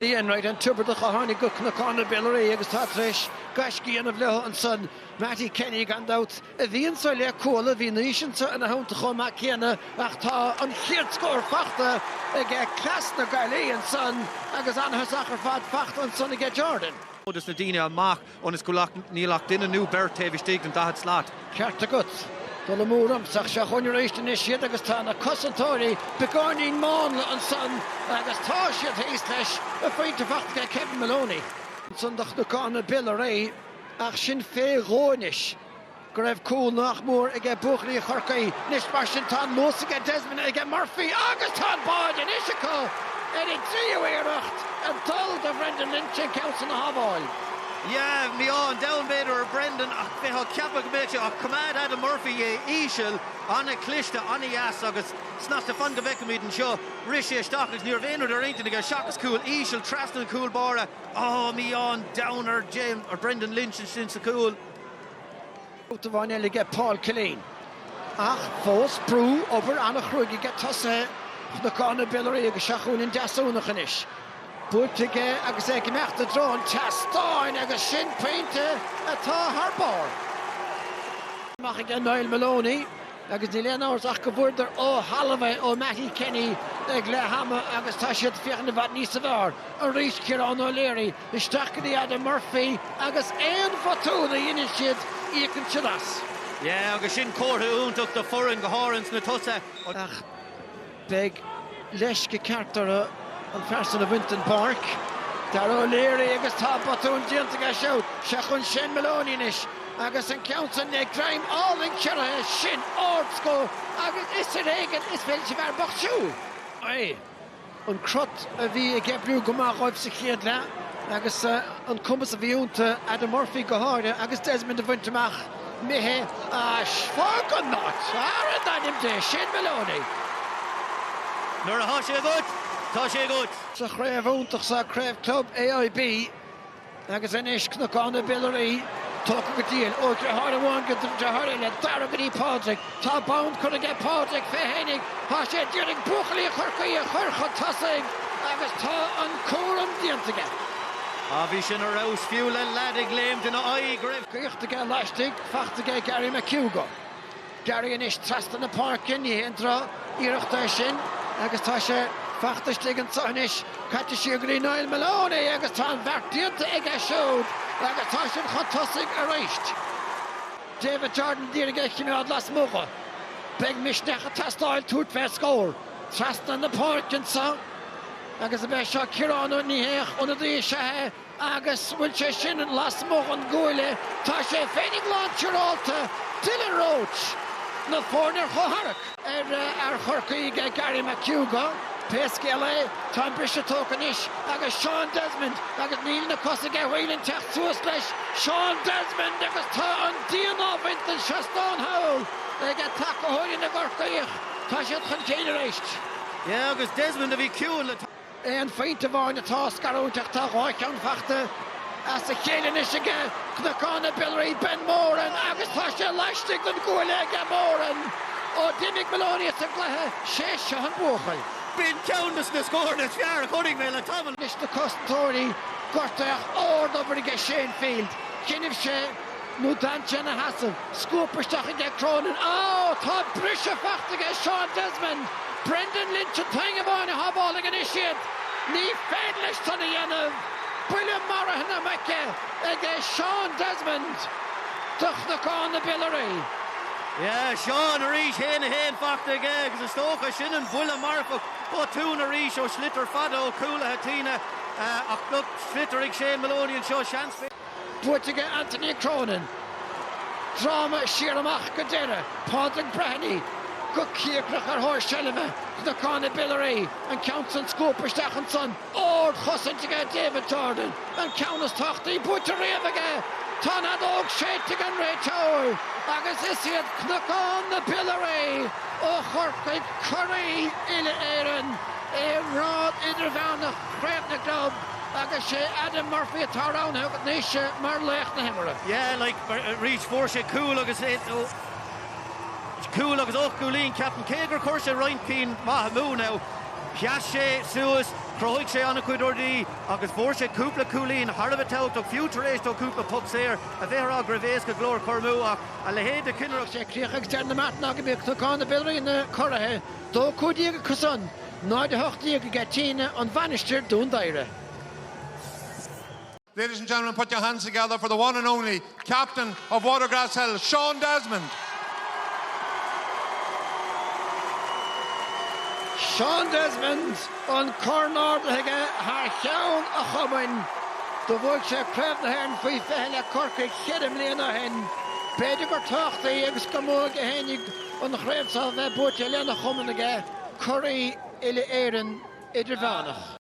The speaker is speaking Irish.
Bhí Enright, an Tiobradach a tháinig go Cnocán na Biolraí agus atá tar éis gaisce a dhéanamh leo ansan, Mattie Kenny, gan dabht, a bhí anseo le Cuala. Bhí Naoise anseo ina theannta chomh maith céanna ach tá an chéad scór fachta aige cleas na Gaillimhe ansan agus an-thosach ar fad fachta ansan aige Jordan. Thógas na daoine amach ionas go, like, níl ach duine nú beirt taobh istigh den daichead slat. Ceart agat. Dul amú ormsa ach seo chugainn arís anois iad agus tá na cosantóirí beagáinín mánla ansan agus tá siad thíos leis. A phointe fachta aige Kevin Moloney. Ansan do Chnocán na Biolraí ach sin fé dhó anois. Go raibh cúl nach mór aige buachaillí Chorcaí. Anois mar sin tá an luas aige, Desmond aige, Murphy agus tá an báide anois acu ar a dtríú iarracht ag dul de Bhrendan Lynch an ceann san a shábháil. Yeah, mí-ádh an domhain b'fhéidir ar Brendan ach bheifeá ag ceapadh go mbeadh sé ach coimeád Adam Murphy é íseal, an-chliste, an-dheas agus snasta. Fan go bhfeicfimid anseo. Rith sé isteach agus ní raibh aon rud ar intinn aige seachas cúl íseal trasna an chúl báire. Ohh mí-ádh an domhain ar James, ar Brendan Lynch ansin sa chúl. Babhta amháin eile aige Paul Killeen. Ach fós brú, obair an-chruaidh aige tosaithe Chnocán na Biolraí agus Seo chugainn an Deasúnach anois. Buailte aige agus é ag imeacht i dtreo an tseastáin agus sin pointe atá thar barr amach aige Niall Moloney agus níl aon amhras ach go bhfuaireadar ó thalamh é ó Mattie Kenny ag leath ama agus tá siad ag féachaint i bhfad níosa bhfearr arís Ciarán O'Leary, Isteach go dtí Adam Murphy agus aon bhotún a dheineann siad íocann siad as. Yeah agus sin comhartha iontach do foireann go háirithe ins na tosaithe. Ach beidh leisce ceart orthu an fear san a bhaint den pháirc. Daire O'Leary agus tá botún déanta aige siúd. Seo chugainn Shane Moloney anois agus an ceann san le greim álainn ciorraithe. Sin ardscór agus is ar éigin is féidir leis an bhfear bocht siúl. Aye. an crot a bhí ag oibriú go maith dhóibh sa chéad leath agus an cumas a bhí ionta, Adam Murphy go háirithe, agus Desmond a bhaint amach. Imithe as. Fág an áit! Ara in ainm Dé! Shane Moloney. Nuair atá sé agat, tá sé agat. Sa chraobh iontach so, Craobh Club AIB, Agus anois Cnocán na Biolraí tógtha go diail, ó dhriotháir amháin go driotháir eile, Daire go dtí Pádraig. Tá bonn curtha aige Pádraig fé fhéinig, tá sé a d'iarraidh buachaillí Chorcaí a chur chun tosaigh agus tá an cúram déanta aige. Á bhí sin ar fheabhas fiú le leaid ag léimt ina aghaidh go raibh. Gaibhte aige laistigh, fachta aige Gary McHugo. Garry anois trasna na páirce, ní haon droch iarracht é sin agus tá sé fachta istigh anseo anois. Caite siar go dtí Niall Maloney agus tá an bheart déanta aige siúd agus tá siad chun tosaigh arís. David Jordan d'iarraidh é chimeád lasmuigh dho. Beidh misneach ag teastáil tabhairt fé scór. Trasna na páirce anseo agus a bheith seo Ciarán Ó Nihéach, ionadaí is ea é. Agus bhfuil sé sin lasmuigh den gcuaille, tá sé féinig lán tsiúrálta, Dylan Roche! Na foirne ar chomhtharrac. ar fhear Chorcaí, Garry McHugh, go. Pé scéal é, tá an briseadh tógtha anois agus Seán Desmond agus níl na cosa aige Whelan teacht suas leis. Seán Desmond agus tá an díon á bhaint den seastán thall ag tacathóirí na gCorcaíoch. Tá siad chun cinn arís. Yeah, agus Desmond a bhí ciúin le. Aon phointe amháin atá á scarúint ach tá dhá cheann fachta as a chéile anois aige. Cnocán na Biolraí, Ben Moran agus tá sé laistigh den gcuaille aige Moran. Ó d'imigh Maloney as an gcluiche, 'sé seo an buachaill. B'in ceann des na scóranna is fearr a chonaic mé le tamall. Anois na cosantóirí, gortaíodh ard-obair aige Shane Field. Choinnibh sé. nó d'fhan sé ina sheasamh. Scuabtha isteach aige Cronin. Á! Tá briseadh fachta aige Seán Desmond! Brendan Lynch an t-éinne amháin a shábhálfaidh anois iad. Ní féidir leis san a dhéanamh. Buille maraithe na muice aige Seán Desmond do Chnocán na Biolraí. Yeah, Seán arís, haon a haon fachta aige agus is dócha sin an buille marfach. Botún arís ó Sliotar fada ó cúlaithe Tíne ach look sliotar ag Shane Maloney anseo. Seans. Buaite aige Anthony Cronin. Dráma siar amach go deireadh, Pádraig Breheny go cíocrach ar thóir seilbhe, Cnocán na Biolraí an ceann san scuabtha isteach ansan, ard chosaint aige David Jordan, an ceann is tábhachtaí buaite riamh aige. Tá an fheadóg séidte ag an réiteoir agus is iad Cnocán na Biolraí ó Chorcaigh curaí Uile-Éireann i ngrád idirmheánach Chraobh na gClub. Agus sé Adam Murphy atá roghnaithe agat anois mar laoch na himeartha. Yeah like arís fuair sé cúl agus cúl agus ocht gcúilín ceapaim cé gur chuir sé roinnt cinn maith amú now sheas sé suas chruthaigh sé an-chuid rudaí agus fuair sé cúpla cúilín thar a bheith tábhachtach fiú tar éis dó cúpla poc saor a bheith a rá go raibh éasca go leor a chur amú ach a leithéid de chinn a raibh sé críochnaithe ag deireadh na mbeart ná gurb iad Cnocán na Biolraí na curaithe. 2 15 acusan, 0 18 ag Tíne, An Mhainistir, Dún Doighre. Ladies and gentlemen put your hands together for the one and only Captain of Watergrasshill, Sean Desmond. Sean Desmond an corn ardaithe aige thar cheann a chumainn. Do bhuaigh sé Craobh na hÉireann faoi 20 le Corcaigh cheithre mbliana ó shin. B'fhéidir gur tábhachtaí agus gur mó aige féinig an chraobh seo a bheith buaite lena chumann aige, curaidh Uile-Éireann Idirmheánach.